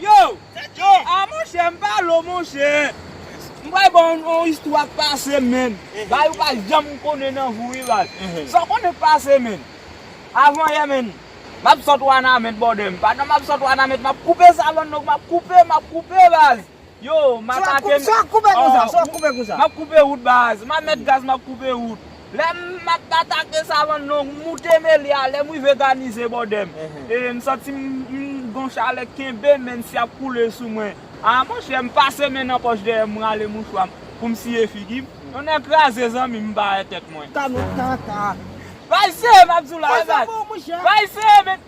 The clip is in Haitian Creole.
Yo! Ah monchè m pa lo monchè! M pral ba w yon istwa k pase m menn. Bagay ou pa janm konnen nan vi w wi baz. Sa w konnen k pase menn? Avan yè menn, m ap sot Wanament bòdè m. Pandan m ap sot Wanament, m ap koupe savann, donk m ap koupe, m ap koupe baz. Yow m atake n oh map koupe wout baz map met gaz map koupe wout lè m map atake savann non m moute melia lè m rive ganize bò dè m ee m santi m gon chalè k kenbe men m si ap koule sou mwen aa monchè m pase men nan pòch dèyè m m rale mouchwa m pou m siye figi m yon nè kraze zanmi m m pa wè tèt mwen. Tanota. Baz se map di w la e baz baz se men.